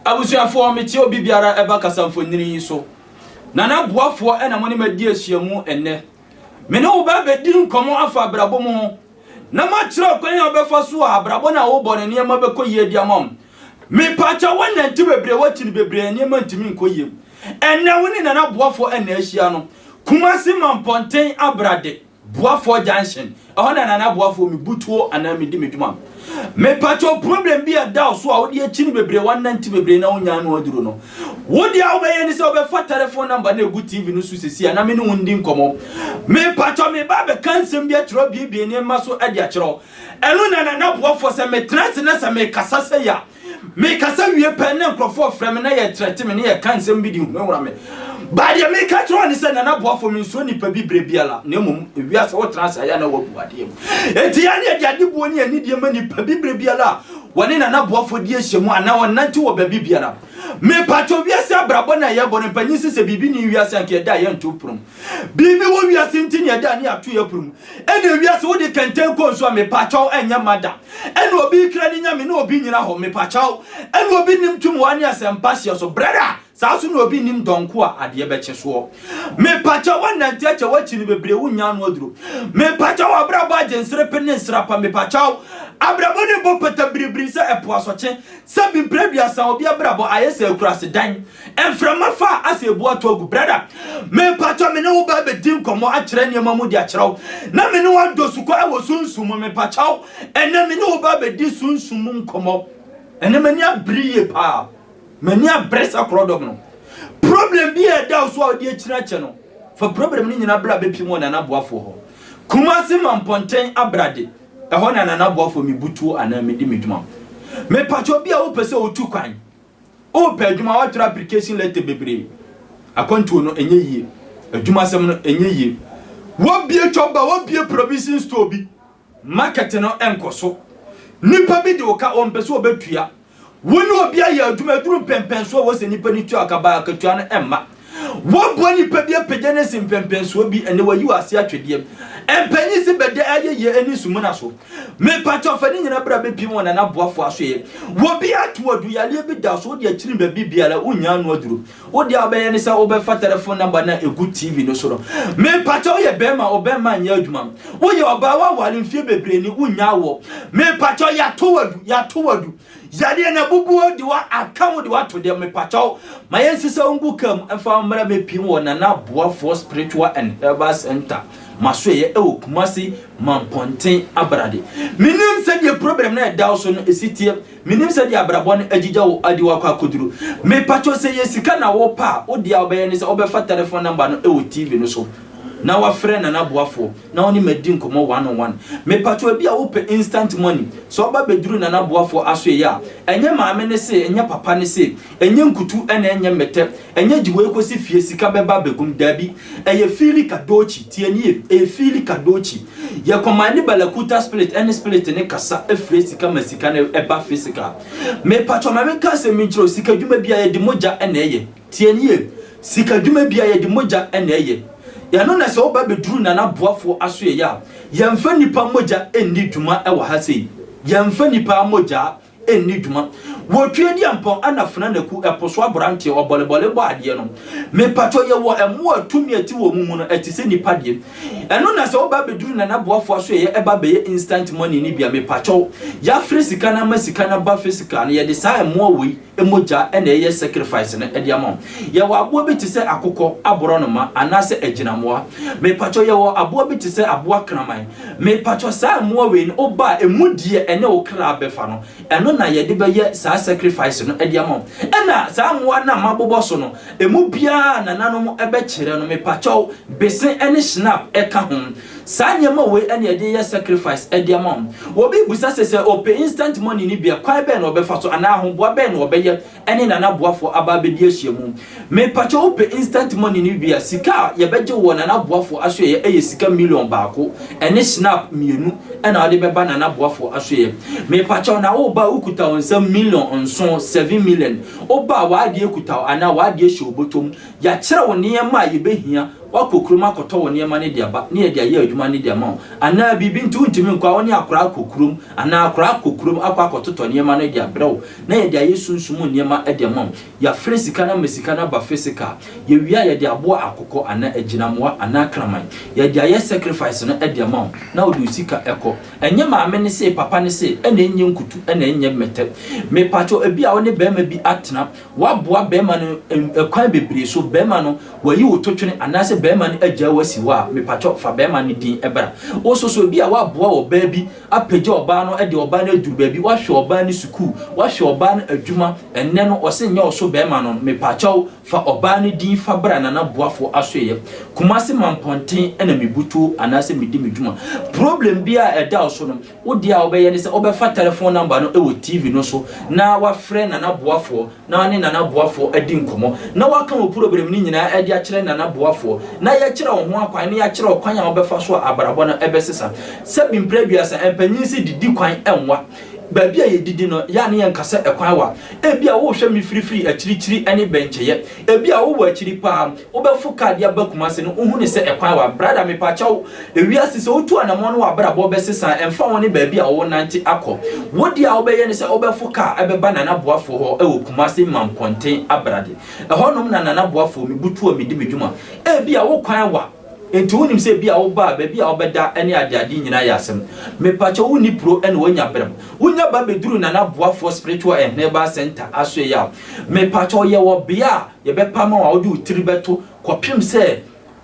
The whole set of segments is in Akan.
Abusuafoɔ, mete obi biara ɛba kasamfonini yi so. Nana Boafoɔ na mo ne me adi ahyiamu ɛnnɛ. Me ne wo bɛ bɛdi nkɔmmɔ afa abrabɔ mu ho, na makyerɛ ɔkwan a wobɛfa so a abrabɔ no a wobɔ no nneɛma bɛkɔ yie de ama wo. Mepakyɛw wonante bebree wakyi no bebree a nneɛma ntumi nkɔ yie. Ɛnnɛ wo ne Nana Boafoɔ na ahyia no Kumasi Mampɔnten Abrade. Boafoɔ junction ɛhɔ na nana boafoɔ me butuo anaa me di me dwuma me pato problem bi a da so a wode akyini bebree wa nanti bebree na wonya ano aduro no wode a wobɛyɛ ne sɛ wobɛfa telephone number na egu tv no so sisi a na me ne wo ndi nkɔmɔ me pato me ba bɛka nsɛm bi akyerɛ biebie nneɛma so ɛde akyerɛ ɛno na nana boafoɔ sɛ me trans na sɛ me kasa sɛ ya Mekasa wie pɛ na nkurɔfoɔ frɛ me na yɛtrɛte me na yɛka nsɛm bi de hunahuna me. Ba deɛ meka kyerɛ wɔn ne sɛ, Nana Boafo, mensuo nnipa bi berɛ biara, na mmom ewiase wotena ase a yɛ a na woabu adeɛ mu. Enti yɛn deɛ de adeboɔ ne anidie ma nnipa bi berɛ biara a wɔne Nana Boafo di ahyiamu anaa wɔnante wɔ baabi biara. Mepakyɛw, wiase abrabɔ no a yɛbɔ no, mpanyin se sɛ biribi nni wiase a nka yɛda a yɛnto pono mu. Biribi wɔ wiase nti ne ɛda ne ato yɛ porom. Ɛne wiase wode kɛntɛn kɔ nsu a mepakyɛw ɛnyɛ mma da. Ɛne obi kra ne nyame ne obi nyina hɔ mepakyɛw. Ɛne obi nim tum wa ne asɛmpa hyeɛ so brɛda saa so ne obi nim dɔnko a adeɛ bɛkye soɔ. Mepakyɛw wɔnante akyɛ wakyi no bebree wo nnya ano aduro. Mepakyɛw abrabɔ agye nserepe ne nsrapa mepakyɛw. Abrabɔ ne bɔ pata biribiri sɛ ɛpo asɔkye. Sɛbi mpire aduasa obi abrabɔ ayɛ sɛ akuraase dan. Mframa fa a asɛ ebu ato agu. Brada, mepakyɛ me ne wo ba bɛdi nkɔmmɔ akyerɛ nneɛma mu de akyerɛ wo, na me ne wo adɔ sukɔ wɔ sunsum mu. Mepakyɛ wo, ɛnnɛ me ne wo ba bɛdi sunsum mu nkɔmmɔ. Ɛnnɛ m'ani abere yie paa. M'ani abere sɛ korɔdɔm no. Problem bi a ɛda wo so a wode akyiri akyɛ no, fa problem no nyinaa bra bɛpiem wɔ Nana Boafoɔ hɔ. Kumasi ma Mpɔnten Abrade, ɛhɔ na Nana Boafoɔ mebutuo anaa medi me dwuma. Mepakyɛ obi a wopɛ sɛ wotu kwan. Wopɛ adwuma a woatwerɛ application letter bebree. Akwantuo no ɛnyɛ yie. Adwuma asɛm no ɛnyɛ yie. Wobie chop bar, wobie provision store bi. Market no ɛnkɔ so. Nipa bi de wo ka, ɔmpɛ sɛ ɔbɛtua. Wo ne obi ayɛ adwuma, ɛduru mpɛmpɛnsoɔ a ɛwɔ sɛ nipa no tua ka, baa akatua no ɛmma. Wɔaboa nnipa bi apagya no asi mpɛnpɛnsoɔ bi ɛnɛ wɔayi wɔ ase atwedeɛ. Mpanyin si bɛda ayɛyie ɛne nsumuna so. Mepatwɔ fa ne nyina bra bɛpiem wɔ Nana Boafo asoeɛ. Wɔbi ato wo aduyadeɛ bi da so wode akyiri baabi biara wonnya ano aduro. Wodeɛ a wobɛyɛ ne sɛ wobɛfa tɛlɛfon namba no a ɛgu TV no so no. Mepatwɔ woyɛ bɛɛma ɔbɛɛma nyɛ adwuma. Woyɛ ɔbaa woaware mfeɛ bebree ni wonnya awoɔ. Mepatwɔ yɛato wo adu yɛato wo adu. Yadeɛ na bubuo de wa aka ho de wa to deɛ mepakyɛw ma yɛn sisa ngu kam ɛfa mmra me pim wɔ nana boafoɔ spiritual and herbal center ma so ɛyɛ ɛwɔ kumase mampɔnten abrade menim sɛ deɛ problem na ɛda so no ɛsi teɛ menim sɛ deɛ abrabɔ no agyigya wo adi wakɔ akoduro mepakyɛw sɛ yɛ sika na wo pa a wo deɛ a wobɛyɛ ne sɛ wobɛfa telephone number no ɛwɔ tv no so na wafrɛ nana boafoɔ na ɔne me adi nkɔmmɔ one on one. Mepakyɛw ebia wopɛ instant money, sɛ ɔba bɛduru Nana Boafoɔ asoɛeɛ a, ɛnyɛ maame no se, ɛnyɛ papa no se, ɛnyɛ nkutu ɛna ɛnyɛ mmɛtɛ, ɛnyɛ gye wei kɔsi fie sika bɛba abɛgu mu, daabi, ɛyɛ Fili Kadochi, tie nie, ɛyɛ Fili Kadochi. Yɛ kɔmande Balakuta spirit ɛne spirit no kasa frɛ sika ma sika no ɛba physical. Mepakyɛw ma menka asɛm bi nkyerɛ wo, sika dwuma biara yɛde mogya ɛna ɛyɛ. Tie nie, sika dwuma biara yɛde mogya na ɛyɛ. Ɛno na sɛ woba bɛduru Nana Boafoɔ asoɛeɛ a, yɛmfa nnipa mogya nni dwuma wɔ ha sei. Yɛmfa nnipa mogya nni dwuma. Wɔ Tweediampɔn ɛna Fena Naku ɛpo so abranteɛ ɔbɔlebɔle bɔ adeɛ no, me pakyɔ yɛwɔ ɛmmoa a tumi a ɛte wɔ wɔn mu no ɛte sɛ nnipa deɛ. Ɛno na sɛ woba bɛduru Nana Boafoɔ asoɛeɛ ɛba bɛyɛ instant money no bi a, me pakyɛw, yɛafrɛ sika no ama sika no aba physically no, yɛde saa ɛmmoa wei. mogya na ɛyɛ sacrifice no de ama wo. Yɛwɔ aboa bi te sɛ akokɔ, aborɔnoma anaasɛ agyinamoa. Mepakyɛw yɛwɔ aboa bi te sɛ aboa kraman. Mepakyɛw saa mmoa wei no woba a ɛmu deɛ ɛne wo kra bɛfa no ɛno na yɛde bɛyɛ saa sacrifice no de ama wo. Ɛna saa mmoa no a mabobɔ so no ɛmu biara a nananom bɛkyerɛ no mepakyɛw bese ne shnap ka ho. Saa nneɛma wei na yɛde yɛ sacrifice de ama wɔn. Obi rebisa sɛ, sɛ ɔpɛ instant money no bi a, kwan bɛn na ɔbɛfa so anaa ahoboa bɛn na ɔbɛyɛ ne nanaboafoɔ aba abɛdi ahyiamu. Mepakyɛ wo pɛ instant money no bi a, sika a yɛbɛgye wɔ nanaboafoɔ asoɛeɛ yɛ sika million baako ne Schnapp mmienu na wode bɛba nanaboafoɔ asoɛeɛ. Mepakyɛ wo, na woreba a wokuta wo nsam million nson, seven million. Woba a w'adeɛ kuta wo anaa w'adeɛ hyɛ wo bɔtɔ mu. Yɛakyerɛ wo nneɛma a yɛbɛhia. Woakɔ kurom akɔtɔ wo nneɛma no de aba na yɛde ayɛ adwuma no de ama wo anaa biribi nti wontumi nkɔ a, wo ne akoraa kɔ kurom anaa akoraa kɔ kurom akɔ akɔtotɔ nneɛma no de abrɛ wo na yɛde ayɛ sunsum mu nneɛma de ama wo. Yɛafrɛ sika no ama sika no aba physical. Yɛwie a, yɛde aboa akokɔ anaa agyinamoa anaa kraman. Yɛde ayɛ sacrifice no de ama wo na wode wo sika kɔ. Ɛnyɛ maame no se, papa no se, ɛna ɛnyɛ nkutu, ɛna ɛnyɛ mmɛtɛ. Mepakyɛw, ebia wo ne barima bi atena, Woaboa bɛɛma no ɛkwan bebree so, bɛɛma no wayi wo totwene anaasɛ bɛɛma no agyaa wo asi hɔ a, mepatwɔ fa bɛɛma no din bra. Woso so ebia woaboa ɔbaa bi apagya ɔbaa no de ɔbaa no aduru baabi, woahwɛ ɔbaa no sukuu, woahwɛ ɔbaa no adwuma, ɛnnɛ no ɔse nyɛ ɔso bɛɛma no no, mepatwɔ fa ɔbaa no din fa bra Nana Boafo Asoeɛ, Kumasi Mampɔnten na mebutuo anaasɛ medi me dwuma. Problem biara a ɛda wo so no, Wo deɛ a wobɛyɛ ne sɛ wobɛfa tɛlɛfon nɔmba no wɔ TV no so na woafrɛ Nana Boafoɔ na wo ne Nana Boafoɔ adi nkɔmmɔ na woaka wo probrɛm no nyinaa de akyerɛ Nana Boafoɔ na yɛakyerɛ wo ho akwan na yɛakyerɛ wo kwan a wobɛfa so a abrabɔ no bɛsesa. Sɛbi mprɛ aduasa, mpanyin se didi kwan nwa baabi a yɛdidi no, yɛ a ne yɛnka sɛ kwan wa. Ebia worehwɛ me firifiri, akyirikyiri ne bɛnkyɛeɛ. Ebia wowɔ akyiri paa, wobɛfo car de aba Kumasi no, wohu no sɛ ɛkwan wa. Brada, mepakyɛw, ewiase sɛ wotu anamɔn no w'abrabɔ bɛsesa a, ɛmfa ho ne baabi a worenante akɔ. Wo deɛ a wobɛyɛ ne sɛ wobɛfo car bɛba Nana Boafoɔ hɔ wɔ Kumasi Mampɔnten Abrade. Ɛhɔnom na Nana Boafoɔ, me butuo a medi me dwuma. Ebia wo kwan wa. Enti wonim sɛ ebia wo ba a baabi a ɔbɛda ne adeade nyinaa yɛ asɛm. Mepakyɛw wonni bro ɛna wanya berɛm? Wonya ba bɛduru Nana Boafoɔ Spiritual and Herbal Centre asoɛeɛ a, mepakyɛw yɛwɔ bea a yɛbɛpa ama wo a wode wo tiri bɛto kɔpem sɛ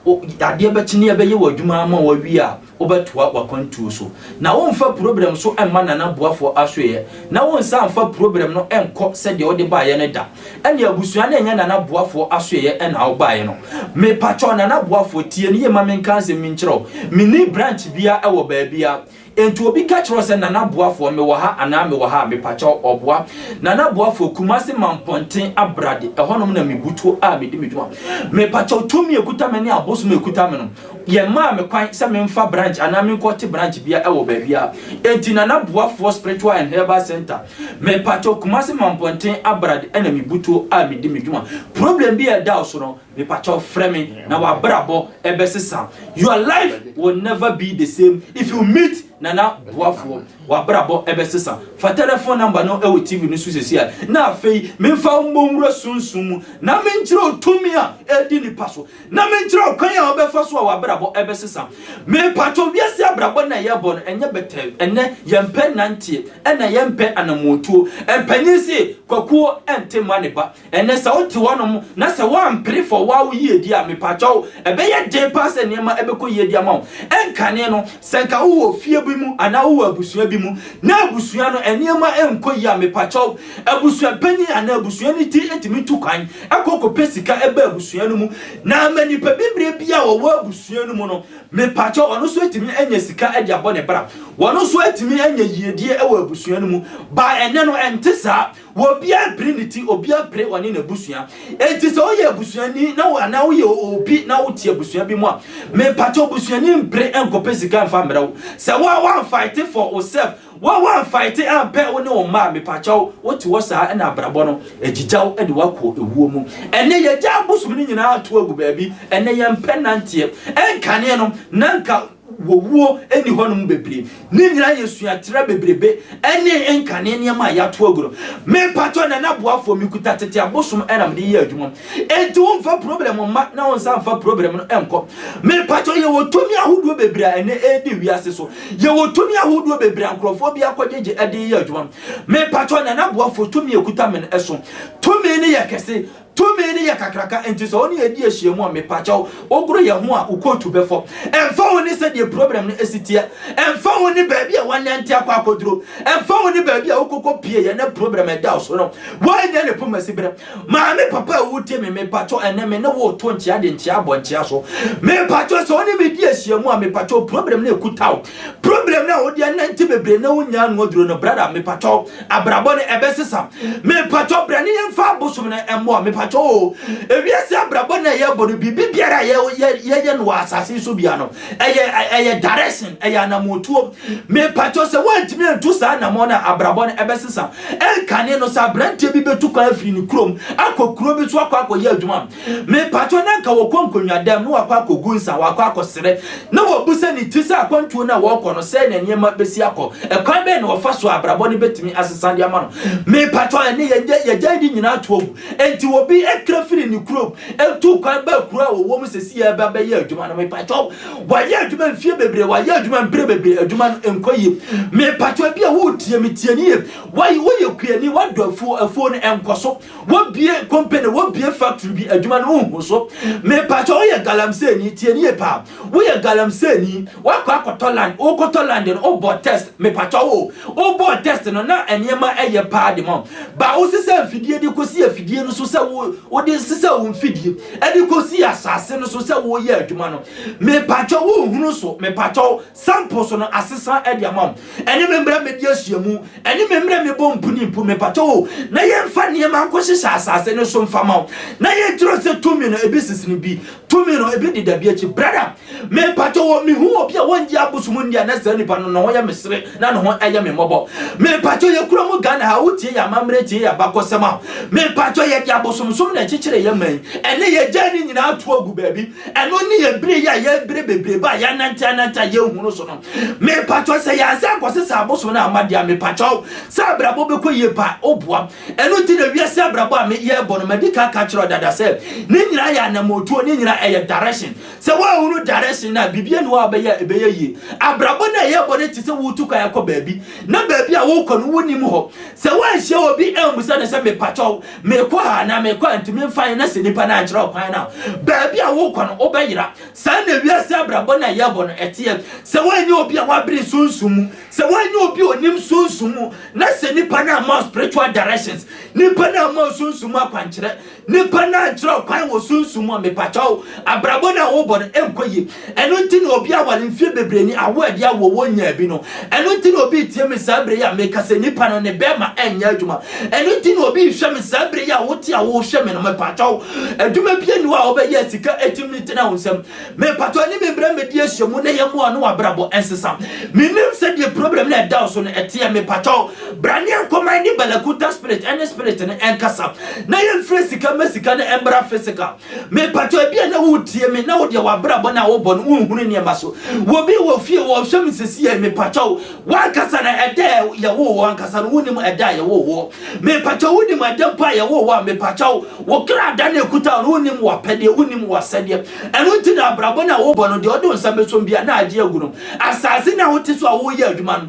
adeɛ bɛkye ne yɛbɛyɛ wo adwuma ama wo awie a, Wobɛtoa w'akwantuo so, na womfa puroberɛm so mma Nana Boafoɔ asoɛeɛ, na wonsan mfa puroberɛm no nkɔ sɛdeɛ wode baeɛ no da. Ɛnneɛ abusua no nyɛ Nana Boafoɔ asoɛeɛ na wobaeɛ no. Mepakyɛw, Nana Boafoɔ, tie no yie ma menka asɛm yi nkyerɛ wo. Menni branch biara wɔ baabiara. Enti obi ka kyerɛ wo sɛ, Nana Boafoɔ, mewɔ ha anaa mewɔ ha a, mepakyɛw, ɔboa. Nana Boafoɔ, Kumase Mampɔnten Abrade, ɛhɔnom na mebutuo a medi me dwuma. Mepakyɛw, tumi a ɛkuta me ne abosom a ɛkuta me no, Yɛmaa me kwan sɛ memfa branch anaa menkɔte branch biara wɔ baabiara. Enti na na Boafoɔ Spiritual and Herbal Centre, mepakyɛw Kumasi Mampɔnten Abrad na Mibutuo a medi me dwuma. Problem bi a ɛda wo so no, mepakyɛw frɛ me na w'abrabɔ bɛsesa. Your life will never be the same if you meet Nana Boafoɔ. W'abrabɔ bɛsesa. Fa telephone number no wɔ TV no so seesei ara. Na afei, memfa wo mmɔ nwura sunsum mu na menkyerɛ wo tumi a ɛredi nnipa so. Na menkyerɛ wo kwan a wobɛfa so a w'abrabɔ bɛsesa. Mepakyɛw, wiase abrabɔ no a yɛbɔ no, ɛnyɛ bɛtɛɛ. Ɛnnɛ, yɛmpɛ nnanteɛ, ɛna yɛmpɛ anammɔntuo. Mpanin se, Kwakuo nte mma ne ba. Ɛnnɛ, sɛ wote hɔnom na sɛ woampere fa ɔwɔ a wo yie di a, mepakyɛw, ɛbɛyɛ den paa sɛ nneɛma bɛkɔ yie de ama wo. Ɛnkane no, sɛ nka wowɔ fie bi mu anaa wowɔ abusua bi mu na abusua no nneɛma nkɔ yie a, mepakyɛw, Abusuapanyin anaa abusua no ti tumi tu kwan kɔ kɔpɛ sika ba abusua no mu, na ama nipa bibire bi a ɔwɔ abusua no mu no, mepakyɛw, ɔno nso atumi anya sika de abɔ ne bra. Wɔn nso atumi anya yiedie wɔ abusua no mu. Baa ɛnnɛ no, ɛnte saa. Obiara pere ne ti, obiara pere ɔne n'abusua. Enti sɛ woyɛ abusuani na wo anaa woyɛ obi na wote abusua bi mu a, mepakyɛw, busuani mpere nkɔpɛ sika mfa mmrɛ wo. Sɛ wo a woamfight for wo self, Wo a woanfaete ampɛ wo ne wo mma a, mepakyɛw, wote hɔ saa a na abrabɔ no agyigya wo de wo akɔ ewuo mu. Ɛnnɛ yɛagya abosom no nyinaa ato agu baabi, ɛnnɛ yɛmpɛ nanteɛ. Ɛnkanee no na anka owuo nni hɔnom bebree. Ne nyinaa yɛ suatra bebrebe ne nkanee nneɛma a yɛato agu no. Mepakyɛw Nana Boafoɔ, mekuta tete abosom na mede yɛ adwuma. Enti womfa problem mma na wonsan mfa problem no nkɔ. Mepakyɛw yɛwɔ tumi ahodoɔ bebree a ɛnɛ ɛredi wiase so. Yɛwɔ tumi ahodoɔ bebree a nkurɔfoɔ bi akɔgyegye de reyɛ adwuma. Mepakyɛw Nana Boafo tumi a ɛkuta me no ɛso. Tumi no yɛ kɛse. Tumi no yɛ kakraka. Enti sɛ wo ne yɛn di ahyiamu a, mepakyɛw wogoro yɛn ho a, wo kootu bɛfɔ. Ɛmfa ho ne sɛdeɛ problem no asi teɛ. Ɛmfa ho ne baabi a woanante akɔ akɔduro. Ɛmfa ho ne baabi a wokɔkɔpieeɛ na problem ɛda wo so no, woannya ne poma siberɛ. Maame papa a wotie me, mepatwɔ ɛnɛ me ne wo to nkyea de nkyea abɔ nkyea so. Mepatwɔ sɛ wo ne me di ahyiamu a, mepatwɔ problem no ekuta wo. Problem no a wode anante bebree na wonyaa ano aduro no, brada, mepatwɔ abrabɔ no ɛbɛsesa. Mepatwɔ bra ne yɛmfa abosom no mmoa, mepatwɔ o. Ewiase abrabɔ no a yɛbɔ no, biribi biara a yɛyɛ no wɔ asase so biara no, ɛyɛ ɛyɛ direction, ɛyɛ anamotuo. Mepatwɔ sɛ woantumi antu saa anamɔ no a, abrabɔ no ɛbɛsesa. Ɛnkane no, sɛ aberanteɛ bi bɛtu kwan afiri ne kurom akɔ kuro bi so akɔ akɔyɛ adwuma, mepakyɛ na nka wɔkɔ nkonnwadam na wakɔ akɔgu nsa, wakɔ akɔsere, na wɔbu sɛ ne ti sɛ akwantuo no a wɔrekɔ no, sɛn na nneɛma bɛsi akɔ? Ɛkwan bɛn na wɔfa so a abrabɔ no bɛtumi asesa de ama no? Mepakyɛ, ɛnne yɛgya yɛgya yɛde nyinaa ato agu. Enti obi kra firi ne kurom tu kwan ba kuro a wɔwɔ mu sɛsi yɛreba bɛyɛ adwuma no, mepakyɛ Wayɛ adwuma mfie bebree, wayɛ adwuma mprɛ bebree, adwuma no nkɔ yie. Mepatwa bi a woretie me tie ne yie. Wayɛ woyɛ kuani, wadɔ afuo, afuo no nkɔ so. Wabie company, wabie factory bi, adwuma no nhu so. Mepatwa woyɛ galamseeni, tie ne yie paa. Woyɛ galamseeni, wakɔ akɔtɔ land, wokɔtɔ land no, wobɔ test, mepatwa wo, wobɔ test no na nneɛma ɛyɛ paa de ma wo. Ba wosesa mfidie de kɔsi afidie no so sɛ wo, wode sesa wo mfidie. ɛde kɔsii asase no so sɛ wɔreyɛ adwuma no mepakyɛw wonhunu so mepakyɛw sample so no asesa de ama wo ɛne me mmerɛ medi ahyiamu ɛne me mmerɛ mebɔ mpuni mpo mepakyɛw o na yɛmfa nneɛma nkɔhyehyɛ asase no so mfa ma wo na yɛnkyerɛ sɛ tumi no ebi sesene bi tumi no ebi deda bi akyi brada Me mpakyɛ wɔ me hu obi a wɔngye abosom nni a na saa nipa no ne ho yɛ me sere na ne ho ɛyɛ me mmɔbɔ me mpakyɛ yɛ kura mu Ghana ha wotie yɛ amammerɛ tie yɛ abakɔsɛm a me mpakyɛ yɛ de abosomsom na ɛkyekyere yɛ man ɛne yɛ gya ne nyinaa to agu baabi ɛno ne yɛ bere yɛ a yɛ bere bebrebe a yɛ anante anante a yɛ hunu so no me mpakyɛ sɛ yɛ ansa nkɔse sɛ abosom na ama deɛ me mpakyɛ sɛ abrabɔ bɛkɔ yie pa oboa ɛno ti na wiase abrabɔ a me yɛ bɔ no madi ka ka kyerɛ dada sɛ ne nyinaa yɛ anamotuo ne nyinaa ɛyɛ direction Sɛ woanhunu direction no a, biribiara nni hɔ a wobɛyɛ a ɛbɛyɛ yie. Abrabɔ no a ɛyɛ bɔne te sɛ woretu kwan akɔ baabi, na baabi a worekɔ no wonnim hɔ. Sɛ woanhyia obi ammisa no sɛ, Mepakyɛw, merekɔ ha anaa merekɔ ha, ntumi mfa yɛn, na sɛ nnipa no ankyerɛ wo kwan no a, baabi a worekɔ no, wobɛyera. Saa na wiase abrabɔ no a ɛyɛ bɔ no teɛ. Sɛ woanyɛ obi a wabere sunsum mu, sɛ woanyɛ obi a onim sunsum mu, na sɛ nnipa no amma wo spiritual directions, nnipa no amma wo sunsum mu akwankyerɛ, Nipa no ankyerɛ wo kwan wɔ sunsum mu a, mepakyɛw, abrabɔ no a wobɔ no nkɔ yie. Ɛno nti na obi aware mfeɛ bebree ni, awo a ɛde awoɔ wɔnnyaa bi no. Ɛno nti na obi retie me saa berɛ yi a meka sɛ nipa no, ne bɛɛma ɛnyɛ adwuma. Ɛno nti na obi rehwɛ me saa berɛ yi a wote a worehwɛ me no, mepakyɛw, adwuma bi nni hɔ a wobɛyɛ a sika atumi ne tena wo nsam. Mepakyɛw, ɛne me mmra mmɛdi ahyiamu na yɛmmoa wo na w'abrabɔ nsesa. Mennim sɛdeɛ problem no a ɛda wo so no teɛ, mepakyɛw, Bra ne yɛnkɔ ma yɛne balaguta spirit ɛne spirit no ɛnkasa na yɛmfiri sika ma sika no ɛmbra physical mepatɔ ebi a na wotie me na wodeɛ wabrabɔ no a wobɔ no wonhunu nneɛma so wɔbi wɔ fie wɔhwɛ me sisi yɛ mepatɔ wo wankasa no ɛda yɛwo wɔ ankasa no wonim ɛda yɛwo wɔ mepatɔ wonim ɛda mpo a yɛwo wɔ a mepatɔ wo wo kra da no ɛkuta wo no wonim wapɛdeɛ wonim wasɛdeɛ ɛno nti na abrabɔ no a wobɔ no deɛ ɔde wo nsa bɛsom bia na agye agu no asase no a wote so a woyɛ adwuma no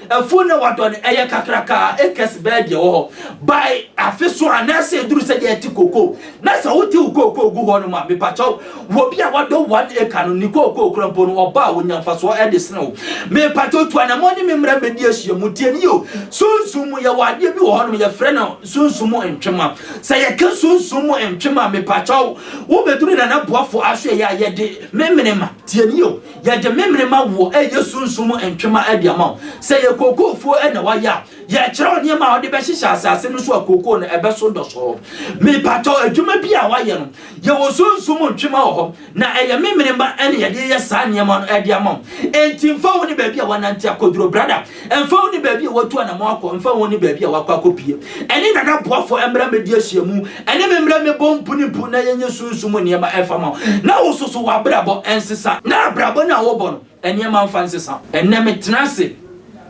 Afuw na wɔadɔ no, ɛyɛ kakraka a acres bɛyɛ deɛ ɛwɔ hɔ by afe so anaasɛ ɛduru sɛdeɛ ɛte kooko. Na sɛ wote wo kooko gu hɔnom a, mepakyɛw, wɔ bi a wadɔ one acre no, ne kooko korɔ mpo no, ɔba a, ɔnya mfasoɔ de sene wo. Mepakyɛw tu anammɔn ne me mmra mmɛdi ahyiamu. Tie me yio, sunsum mu, yɛwɔ adeɛ bi wɔ hɔnom, yɛfrɛ no sunsum mu ntwema. Sɛ yɛka sunsum mu ntwema a, mepakyɛw, wobɛduru Nana Boafo aso ɛyɛ a, yɛde memenema. Tie me yio. Yɛde memenema woɔ ɛyɛ sunsum ntwema de ama wo. Sɛ ɛyɛ kookoofuo na wayɛ a, yɛrekyerɛ wo nneɛma a wode bɛhyehyɛ asase no so a kookoo no ɛbɛso dɔsɔɔ. Mepatɔ, adwuma bi a wayɛ no, yɛwɔ sunsum ntwema wɔ hɔ, na ɛyɛ memenema na yɛde reyɛ saa nneɛma no de ama wo. Enti mfa wo ne baabi a wanante akɔduro, brada. Ɛmfa ho ne baabi a watu anammɔn akɔ, ɛmfa ho ne baabi a wakɔ akɔpue, ɛne Nana Boafo mmra mmɛdi ahyiamu, ɛne me mmra mmɛbɔ mpo ne mpo na yɛnyɛ sunsum mu nneɛma ɛmfa ma wo, na wo nso so w'abrabɔ ɛnsesa, na abrabɔ no a wobɔ no nneɛma mfa nsesa. Ɛnnɛ metena ase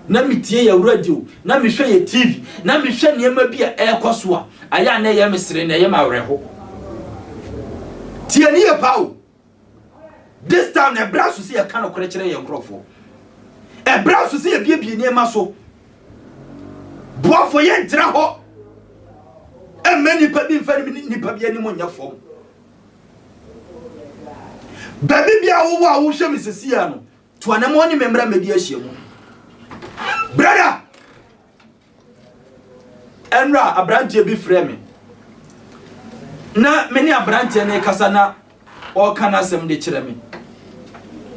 na metie yɛn radio, na mehwɛ yɛn TV, na mehwɛ nneɛma bi a ɛrekɔ so a, ayɛ a na ɛyɛ me sere, na ɛyɛ me awerɛho. Tie no yie paa o! This time na ɛbrɛ aso sɛ yɛka nokorɛ kyerɛ yɛn nkurɔfoɔ. Ɛbrɛ aso sɛ yɛbiebie nneɛma so. Boafo yɛntra hɔ ɛmma nnipa bi mfa nnipa bi anim nyɛ fam. Baabi bi a wowɔ a wohwɛ me sesia no, to anamɔ ne me mmra mmɛdi ahyia mu. Brada! Ɛnora aberanteɛ bi frɛ me na me ne aberanteɛ no rekasa na ɔreka n'asɛm de kyerɛ me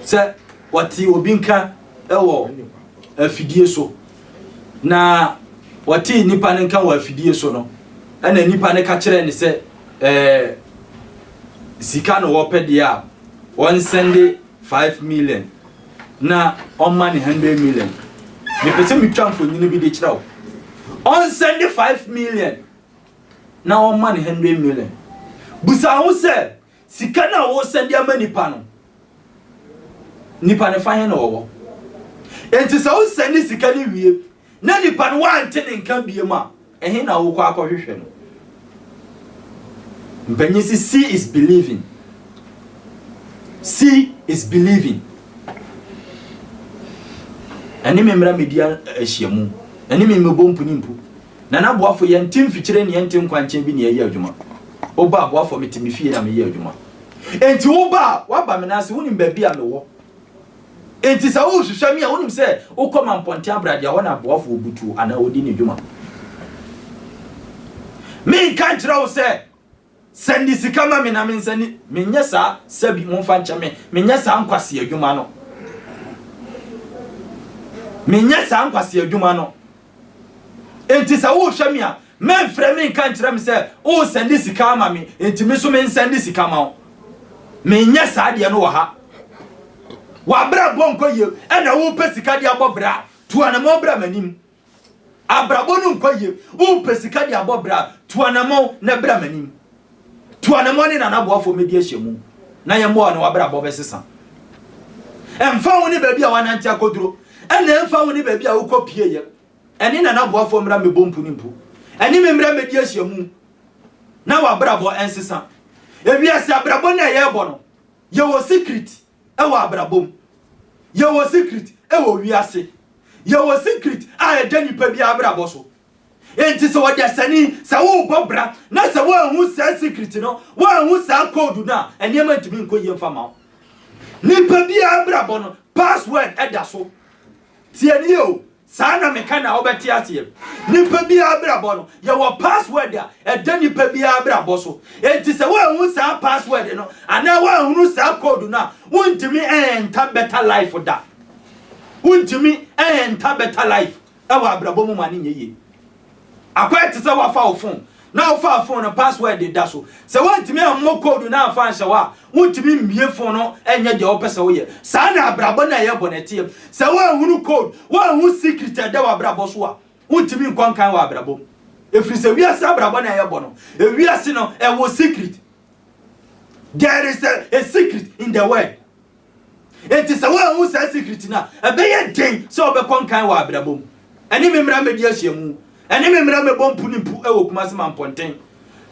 sɛ wɔte obi nka wɔ afidie so na wɔte nnipa no nka wɔ afidie so no ɛna nnipa no ka kyerɛ ne sɛ ɛɛ sika na wɔpɛ deɛ a wɔnsɛnde five million na ɔma ne hundred million mepɛ sɛ metwa mfonini bi de kyerɛ wo ɔnsɛnde five million na ɔma ne hundred million busa ho sɛ sika no a wosɛnde ama nipa no nipa no fa he na ɔwɔ enti sɛ wosɛnde sika no wie na nipa no wante ne nka biem a, ɛhe na wokɔ akɔhwehwɛ no? Mpanyin si see is believing. See is believing. Ɛne me mmara media ahyiamu. Ɛne me mmebɔ mpunimpu. Na n'aboafo yɛn ti mfikyire ne yɛn ti nkwankyɛn bi ne yɛyɛ adwuma. Woba aboafo me te me fie na meyɛ adwuma. Enti woba a, woaba me n'ase, wonim baabi a mewɔ. Enti sɛ worehwehwɛ me a, wonim sɛ wokɔ ma mpɔnten abrade a, hɔ na aboafoɔ butuo anaa wɔdi ne dwuma. Menka nkyerɛ wo sɛ, Sɛ ne sika ma me na mensa ni. Menyɛ saa, sɛbi momfa nkyɛ me, menyɛ saa nkwasea adwuma no. Menyɛ saa nkwasea adwuma no. Enti sɛ worehwɛ me a, mɛmfrɛ me nka nkyerɛ me sɛ woresɛnde sika ama me, enti me nso mensɛnde sika ma wo. Menyɛ saa deɛ no wɔ ha. W'abrabɔ nkɔ yie ɛna wopɛ sika de abɔ bra, tu anamɔn bra m'anim. Abrabɔ no nkɔ yie, wopɛ sika de abɔ bra, tu anamɔn na bra m'anim. Tua ne mmɔne na n'aboafo mmedi ahyɛmu na yɛn mmoa a ɔne w'abrabɔ bɛsesa. Ɛmfa ho ne baabi a w'anante akoduro, ɛna ɛmfa ho ne baabi a wokɔ pie yɛ, ɛne na n'aboafo mmra mmɛbɔ mpu ne mpu, ɛne me mmra mmɛdi ahyɛmu na w'abrabɔ ɛnsesa. Ewiase abrabɔ na yɛrebɔ no, yɛwɔ sikrit ɛwɔ abrabɔ mu, yɛwɔ sikrit ɛwɔ wiase, yɛwɔ sikrit a ɛda nipa biara abrabɔ so. Enti sɛ ɔdasani, sɛ worebɔ bra na sɛ woanhu saa secret no, woanhu saa code no a, nneɛma ntumi nkɔ yie mfa ma wo. Nipa biara abrabɔ no, password da so. Tie nie o, saa na meka na wobɛte aseɛ. Nipa biara abrabɔ no, yɛwɔ password a ɛda nipa biara abrabɔ so. Enti sɛ woanhu saa password no anaa woanhunu saa code no a, wontumi ɛnta better life da. Wontumi ɛnta better life. wɔ abrabɔ mu ma no nyɛ yie. Akɔyɛ te sɛ woafa wo fon na wofaa fon no password da so. Sɛ woantumi ammɔ code no amfa anhyɛ hɔ a, wontumi mmue fon no nyɛ deɛ wopɛ sɛ woyɛ. Saa na abrabɔ no a ɛyɛ bɔne teɛ. Sɛ woanhunu code, woanhu secret a ɛda w'abrabɔ so a, wontumi nkɔ nkan wɔ abrabɔ mu. Ɛfiri sɛ wiase abrabɔ no a yɛbɔ no, ewiase no ɛwɔ secret. There is a, a secret in the world. Enti sɛ woanhu saa sikiriti no a, ɛbɛyɛ den sɛ wobɛkɔ nkan wɔ abrabɔ mu. Ɛne me mmra mmɛdi ahyiamu. Ɛne me mmra mmɛbɔ mpu ne mpu wɔ Kumasi Mampɔnten.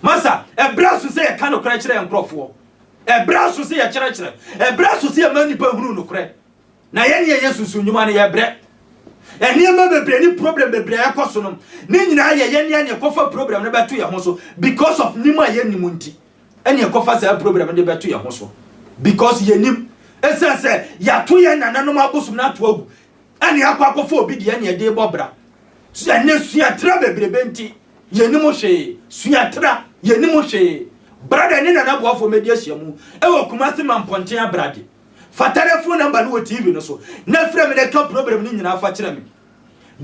Masa, ɛbrɛ aso sɛ yɛka nokorɛ kyerɛ yɛn nkorɔfoɔ. Ɛbrɛ aso sɛ yɛkyerɛkyerɛ. Ɛbrɛ aso sɛ yɛma nnipa hunu nokorɛ. Na yɛne yɛyɛ sunsum nnwuma no, yɛbrɛ. Nneɛma bebree ne problem bebree a ɛkɔ so no, ne nyinaa yɛyɛ ne a na yɛkɔfa problem no bɛto yɛn ho so because of nim a yɛnnim nti. ɛne ɛkɔfa saa problem no de bɛto yɛn ho so because yɛnim ɛsiane sɛ yɛato yɛn nananom abosom no ato agu ɛne akɔ akɔfa obi deɛ ne ɛde bɔ bra ɛne suatra bebrebe nti yɛnim hwee suatra yɛnim hwee brada ne nana boafoɔ mɛdi ahyia mu ɛwɔ kuma se ma mpɔnten abrade fa telefon namba no wɔ tv no so na frɛ me na ɛka problem no nyinaa fa kyerɛ me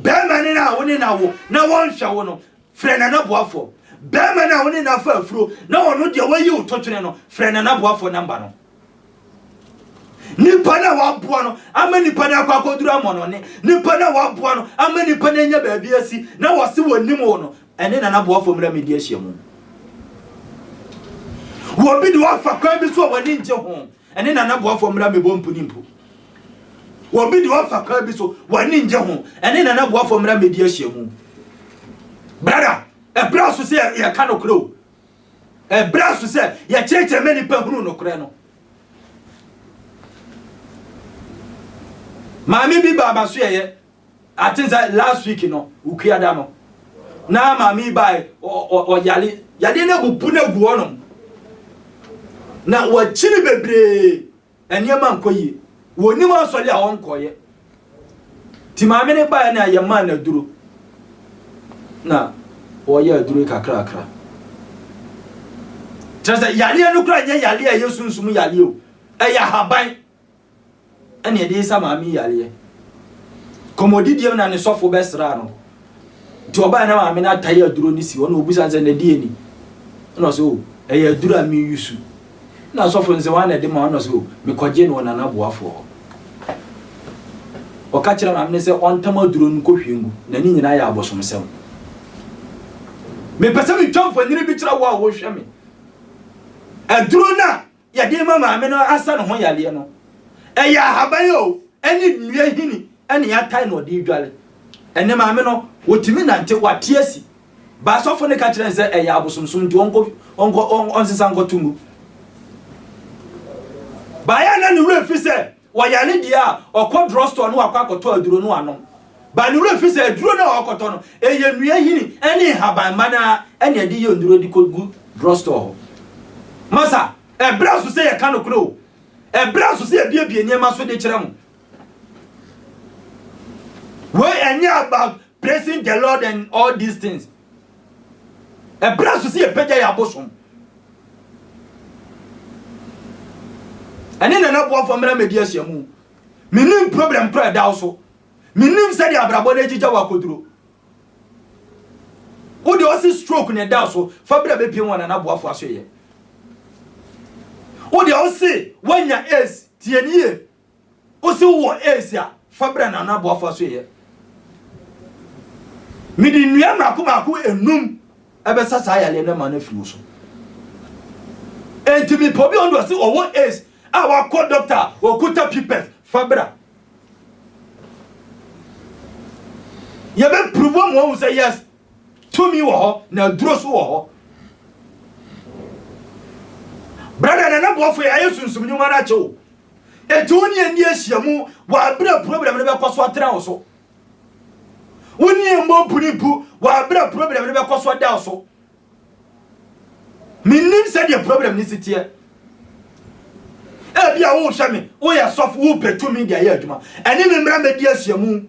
bɛrima ne no a wo ne na wo na wɔnhwɛ wo no Frɛ n'anaboafoɔ. Barima no a wo ne no afa afuro na ɔno deɛ wayi wo totwene no, frɛ n'anaboafoɔ namba no. Nipa no a waboa no ama nipa no akɔ akɔduru amɔnɔne, nipa no a waboa no ama nipa no anya baabi asi na wɔse wɔnim wo no, ɛne n'anaboafoɔ mmra medi ahyiamu. Wɔbi de wafa kwan bi so a w'ani ngye ho, Ɛne na n'aboafoɔ mmra mmɛbɔ mpuni mpo. Wɔn bi deɛ wɔfa kwan bi so, wɔn ani ngye ho. Ɛne na n'aboafoɔ mmra mmɛdi ahyiamu. Brada, ɛbrɛ aso sɛ yɛka nokorɛ o. Ɛbrɛ aso sɛ yɛkyerɛkyerɛ ma nipa hunu nokorɛ no. Maame bi baa masoɛeɛ. I think sɛ last week no wukua da no na maame yi bae ɔyare yadeɛ no abubu no agu hɔnom na wakyiri bebree nneɛma nkɔ yie wɔnim asɔre a wɔnkɔeɛ nti maame no bae no a yɛmaa no aduro na wɔyɛ aduro kakrakra kyerɛ sɛ yareɛ no kora nyɛ yareɛ a ɛyɛ sunsum yareɛ o ɛyɛ ahaban ɛna ɛde resa maame yi yareɛ. Kɔmmɔdidie mu na ne sɔfo bɛsraa no. Nti ɔbaeɛ na maame no atae aduro no si hɔ na ɔbisa no sɛ na deɛ ni. Ɛna ɔsɛ o, ɛyɛ aduro a meyusu. Ɛna sɔfo no sɛ wɔn na ɛde ma ɔna sɛ o, mekɔgye no wɔ nana boafoɔ hɔ. Ɔka kyerɛ maame no sɛ ɔntam aduro no nkɔhwie ngu na ne nyinaa yɛ abosomsɛm. Mepɛ sɛ metwa mfonini bi kyerɛ wo a wohwɛ me. Aduro no a yɛde rema maame no asa ne ho yareɛ no, ɛyɛ ahaban o, ɛne nnua hini ɛne yɛatae na ɔde redware. Ɛne maame no, wɔtumi nante, wɔate asi. Ba asɔfo no ka kyerɛ no sɛ ɛyɛ abosomsom nti ɔnkɔ, ɔnkɔ, ɔnsesa nkɔto mu. Baeɛ a na ne werɛ fi sɛ Ɔyare deɛ a, ɔkɔ drugstore na wakɔ akɔtɔ aduro no anom. But ne werɛ fi sɛ aduro no a ɔrekɔtɔ no, ɛyɛ nnua nhini ne nhaban mma no ara na ɛde yɛ nnuro de kɔgu drugstore hɔ. Masa, ɛberɛ aso sɛ yɛka nokorɛ o. Ɛberɛ aso sɛ yɛbuebue nneɛma so de kyerɛ mo. Wei ɛnyɛ about praising the Lord and all these things. Ɛberɛ a ɛsɛ sɛ yɛpagya yɛn abosom. Ɛne nana boafo mmra mmɛdi ahyiamu. Menim problem kora ɛda wo so. Menim sɛdeɛ abrabɔ no agyigya wɔ akoduro. Wo deɛ ɔsi stroke na ɛda so fa bra bɛpiem wɔ nana boafo asoeɛ. Wo deɛ ɔsi wanya ace tiɛnie. Wo se wowɔ aids a, fa bra na Nana Boafo asoɛeɛ. Mede nnua mmaako mmaako enum ɛbɛsa saa yareɛ no ma no afiri wo so. Enti mepɛ obi a ɔno deɛ ɔse ɔwɔ aids a wakɔ dɔkta a ɔkuta pipɛt fa bra. Yɛbɛpuruvu ama wahu sɛ yes, tumi wɔ hɔ na aduro so wɔ hɔ. Brada Nana Boafo yɛayɛ sunsum nnwuma no akyɛ wo. Enti wo ne yɛn nni ahyiam wɔ bere a problem no bɛkɔ so atra wo so. Wo ne yɛn mmɔ mpunimpu wɔ bere a problem no bɛkɔ so ada wo so. Mennim sɛdeɛ problem no si teɛ. Ebi a wohwɛ me, woyɛ sɔfo, wopɛ tumi de ayɛ adwuma. Ɛne me mmara mɛdi ahyiamu.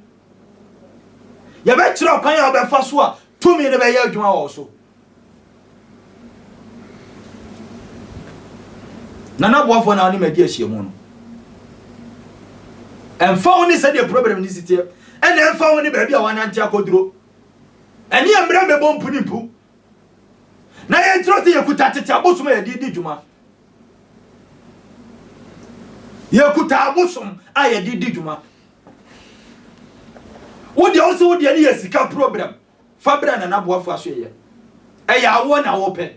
Yɛbɛkyerɛ ɔkwan a wobɛfa so a tumi no bɛyɛ adwuma wɔ wo so. Nana Boafoɔ na ɔne madi ahyiamu no. Ɛmfa wo ne sɛdeɛ problem no si teɛ, ɛna ɛmfa wo ne baabi a wanante akɔduro. Ɛne yɛ mmerɛ mmɛbɔ mpu ne mpu. Na yɛnkyerɛ sɛ yɛkuta tete abosom a yɛde di dwuma. Yɛkuta abosom a yɛde di dwuma. wo deɛ wo se wo deɛ ne yɛ sika program fa berɛ nana boafo aso yɛ ɛyɛ awoɔ na wopɛ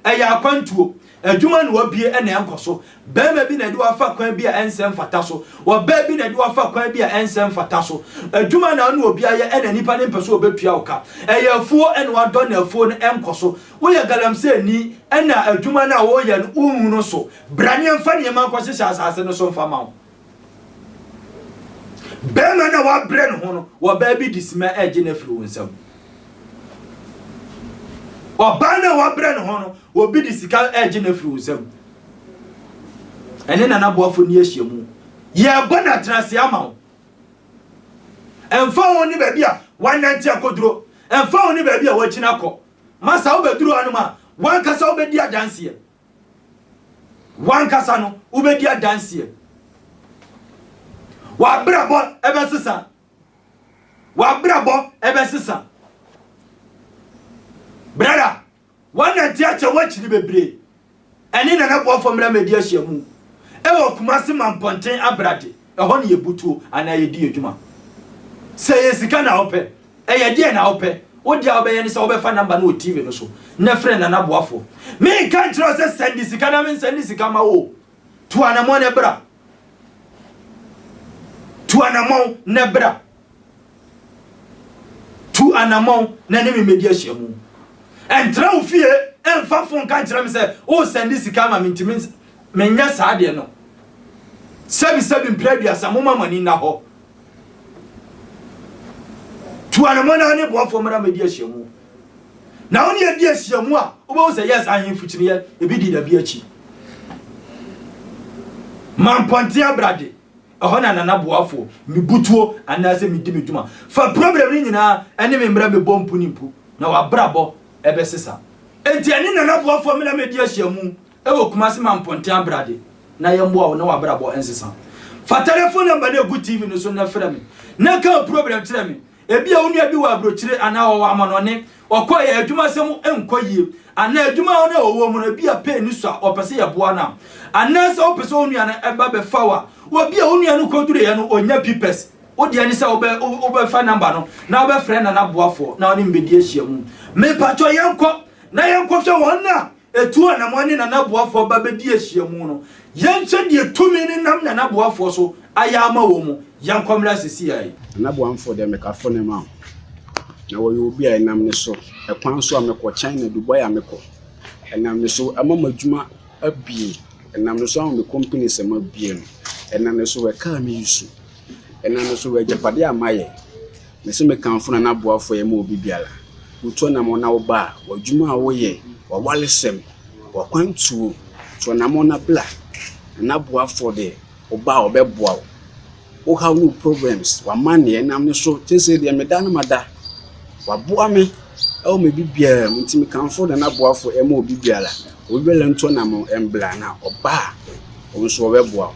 ɛyɛ akwantuo adwuma na wabie ɛna ɛnkɔ so bɛrima bi na ɛde wafa kwan bi a ɛnsɛ mfata so ɔbaa bi na ɛde wafa kwan bi a ɛnsɛ mfata so adwuma na ɔne obi ayɛ ɛna nipa ne mpɛ so ɔbɛtua wo ka ɛyɛ afuo ɛna wadɔ na afuo no ɛnkɔ so woyɛ galamsɛ ni ɛna adwuma no a wɔyɛ no wonhu no so bra ne ɛmfa nneɛma nkɔhyehyɛ asase no so mfa ma wo Barima no a wabrɛ ne ho no, ɔbaa bi de sima regye no afiri wo nsam. Ɔbaa no a wabrɛ ne ho no, obi de sika regye no afiri wo nsam. Ɛne nana boafo ni ahyia mu. Yɛrebɔ no atenase ama wo. Ɛmfa ho ne baabi a wanante akɔduro, ɛmfa ho ne baabi a wakyina akɔ. Masa wobɛduru hanom a, wankasa wobɛdi adanseɛ. W'ankasa no, wobɛdi adanseɛ. W'abrabɔ ɛbɛsesa. W'abrabɔ ɛbɛsesa. Brada, wɔnante akyɛ woakyiri bebree. Ɛne Nana Boafo Mmra Mmɛdi Ahyiamu ɛwɔ Kumasi Mampɔnten Abrade. Ɛhɔ na yɛbu tuo anaa yɛdi yɛn dwuma. Sɛ ɛyɛ sika na wopɛ, ɛyɛ deɛ na wopɛ, wo deɛ a wobɛyɛ ne sɛ wobɛfa number no wɔ TV no so na frɛ Nana Boafoɔ. Menka nkyerɛ wo sɛ sɛnde sika na mensɛnde sika ma wo o. Tu anamɔn na bra. Tu anamɔn na bra. Tu anammɔn na ne me mmɛdi ahyiamu. Ɛntra wo fie ɛmfa fon ka nkyerɛ me sɛ woresɛnde sika ama me nti menyɛ saa deɛ no. Sɛbi sɛbi mpere aduasa moma mo ani nna hɔ. Tu anammɔn na ne boafoɔ mmra mmɛdi ahyiamu. Na wo ne yɛdi ahyiamu a wobɛhu sɛ yes ahemfo kyiniiɛ ebi di dabi akyi. Mampɔnten abrade Ɛhɔ na Nana Boafo, me butuo anaasɛ medi me dwuma fa problem no nyinaa ne me mmra mebɔ mpu ne mpu na wabrabɔ bɛsesa. Enti ɛne Nana Boafo mmra medi ahyiamu wɔ Kumasi ma mponten abrade na yɛmmoa wo na wabrabɔ nsesa. Fa telefon number no a ɛgu TV no so nnɛ frɛ me na ka wo problem kyerɛ me Ebia wo nua bi wɔ aburokyire anaa ɔwɔ amanɔnne, ɔkɔɔ yɛ adwumasɛm nkɔ yie, anaa adwuma a ɔne ɔwɔ mu no ebia pay no sua ɔpɛ sɛ yɛboa no a. Anaasɛ wopɛ sɛ wo nua no ba bɛfa wo a, wobia wo nua no kɔduruiɛ no ɔnya pipɛs, wo deɛ ne sɛ wobɛ wobɛfa namba no na wobɛfrɛ nana boafoɔ na ɔne mbɛdi ahyiamu. Mepakyɔ yɛnkɔ na yɛnkɔhwɛ wɔn a Etu a na mo ne Nana Boafoɔ ba bɛdi ahyiamu no, yɛnkyɛ deɛ tumi no nam Nana Boafoɔ so ayɛ ama wɔn mu, yɛnkɔ mmra sesiai. Nana Boamfoɔ deɛ meka fo ne ma wo. Na wɔyɛ obi a ɛnam ne so, ɛkwan so a mekɔ, China, Dubai a mekɔ, ɛnam ne so ama m'adwuma abie, ɛnam ne so ama me companies a mabue no, ɛnam ne so wɔ car me use, ɛnam ne so wɔ agyapadeɛ a mayɛ. Mese mekamfo na n'aboafoɔ yɛ ma obi biara. Wotu anammɔn na woba a, w'adwuma a woyɛ, w'awaresɛm, w'akwantuo, tu anammɔn na bra. Na n'aboafoɔ deɛ, woba a ɔbɛboa wo. Wo haw ne wo problems, w'amanneɛ, ɛnam ne so, seesei deɛ meda no mada. Waboa me wɔ me biribiara mu, nti mekamfo na n'aboafoɔ yɛ ma obi biara. Obi biara ntu anammɔn mbra, na ɔba a, wo nso wɔbɛboa wo.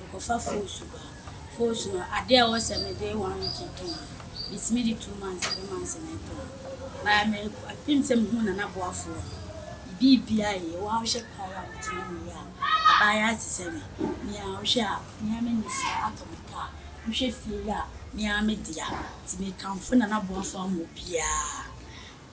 Mekɔfa foosu ba a, foosu no adeɛ a ɛwɔ sɛ mede one week tɔn no, metumi de two months, three months na ɛtɔn. But me apem sɛ mehunu Nanaboafoɔ no, biribiara yie. Wo ara wohwɛ paa yi a wotumi hu yie a, abaayewa te sɛ me, me ara wohwɛ a, me ara manya sika atɔ me kaa, wohwɛ fie yi a, me ara me dea. Nti mekamfo Nanaboafoɔ ama obiara.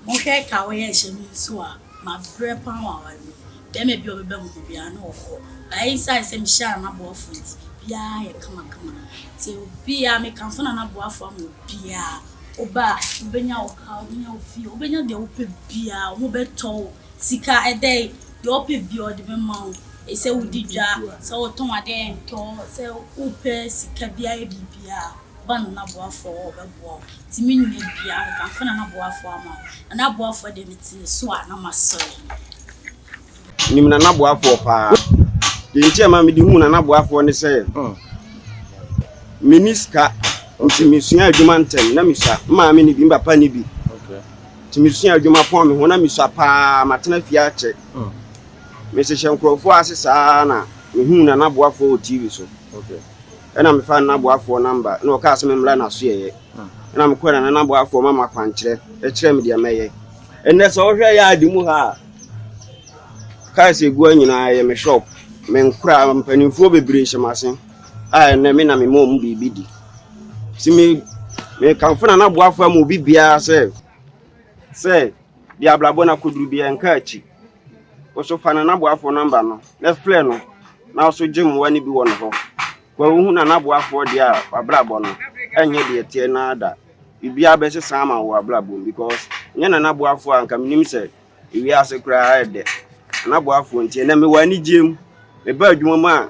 Monhwɛ ɛka a wɔyɛ nhyɛ no nso a mabrɛ paa wɔ aware mu. Bɛɛma bi a ɔbɛbɛ me ho biara na ɔkɔ. But esiane sɛ mehyɛ a na boafo nti, biaa ayɛ kamakama. Sɛ obi a mekamfo na na boafo ama obiaa. Woba a, wobɛnya wo car, wobɛnya wo fie, wobɛnya deɛ wopɛ biaa. Ɔmo bɛtɔ wo sika, ɛdɛ yi, deɛ ɔpɛ biaa ɔde bɛma wo. Sɛ wodi dwa, sɛ wotɔn adeɛ a ɛntɔ, sɛ wopɛ sika biaa yɛ biribiaa. Ɔba na n'aboafoɔ wɔ hɔ bɛboa wo Nti me nua biaa nkamfo na n'aboafoɔ ama wo Na n'aboafoɔ deɛ mete ne so a na masɔre Nim Nana Boafoɔ paa Deɛ nti a ma mede hu Nana Boafoɔ ne sɛ Menni sika nti mesua adwuma ntɛm na mesua Me maame ne bi, me papa ne bi Nti mesua adwuma pɔn me ho na mesua paa Matena fie akyɛ Mehyehyɛ nkurɔfoɔ ase saa na mehu Nana Boafoɔ wɔ TV so Ɛna mefaa ne naboafoɔ namba, na ɔkaa sɛ memmra n'asoɛeɛ. Ɛna mekɔɛ na ne naboafoɔ ma makwankyerɛ, ɛkyerɛ me deɛ mɛyɛ. Ɛnɛ sɛ wohwɛ yaade mu ha a, cars egua nyinaa yɛ me shop, me nkora, mpanimfoɔ bebree hyɛ m'ase a ɛnɛ me na mema wɔn biribi di. Si me mekamfo na naboafoɔ ama obi biara sɛ sɛ deɛ abrabɔ no akɔduru biara nka akyi. Woso fa no n'aboafoɔ nɔmba no na frɛ no na woso gye mmoa no bi wɔ ne hɔ. Kwa wohu na n'aboafoɔ deɛ a w'abrabɔ no ɛnyɛ deɛ ɛteɛ no ara da. Biribiara bɛsesa ama wo wɔ w'abrabɔ mu because nyɛ na n'aboafoɔ a anka menim sɛ ewiase koraa ɛdɛ. N'aboafoɔ nti ɛnɛ mewɔ anigyeɛ mu, mebaa adwuma mu a.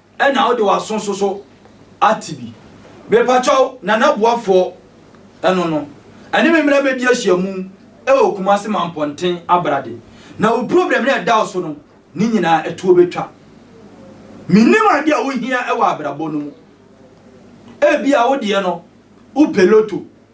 Ɛna wode w'aso nso so ate bi. Mepakyɛw Nana Boafoɔ ɛno no ɛne me mmra bɛdi ahyiamu ɛwɔ Kumase Manpɔnten Abrade na wo problem no a ɛda wo so no ne nyinaa ɛtoɔ bɛtwa. Menim adeɛ a wohia ɛwɔ abrabɔ no mu. Ebia wo deɛ no wopɛ loto.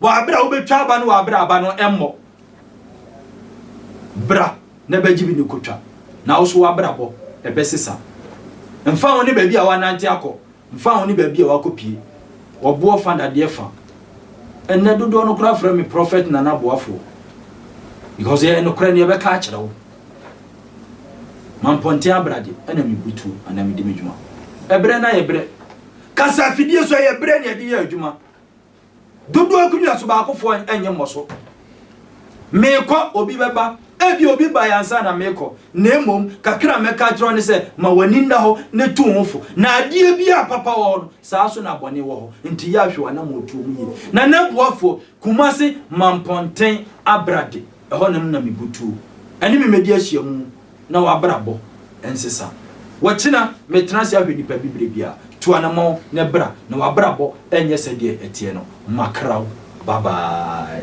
Wɔ aber a wobetwa aba no wɔ aber a aba no mbɔ. Bra na ebɛgye bi na ekotwa, na wo so w'abrabɔ bɛsesa. Mmfa ho ne beebi a wɔanantse akɔ, mmfa ho ne beebi a wɔakopue, ɔboɔ fa dadeɛ fa. Ndɛ dodoɔ no koraa frɛ me Prophet Nana Boafoɔ because ɛyɛ nokorɛ no yɛbɛka akyerɛ wo. Mampɔnten abrade ɛna mebu tuo anaa medi me dwuma. Ɛberɛ no ayɛ berɛ. Kasa afidie so ɛyɛ berɛ na yɛde yɛ adwuma. Dodoɔ gu nyaso baakofoɔ nyɛ mmɔ so. Meekɔ, obi bɛba. Ebia obi bae ansa na meekɔ, na mmom kakra a mɛka akyerɛ wo ne sɛ, ma w'ani nna hɔ na tu wo ho fo. Na adeɛ bi a papa wɔ hɔ no, saa nso na bɔne wɔ hɔ. Enti yɛ ahwɛ w'anammɔntuo mu yie. Na Nɛboafoɔ, Kumase, Mampɔnten, Abrade, ɛhɔ na na mebutuo. Ɛne me mmɛdi ahyiamu. na w'abrabɔ nsesa. Wɔkyena metra ase ahwɛ nipa bi berɛ biara, tu anamɔn na bra na w'abrabɔ nyɛ sɛdeɛ ɛteɛ no, makra wo, bye bye.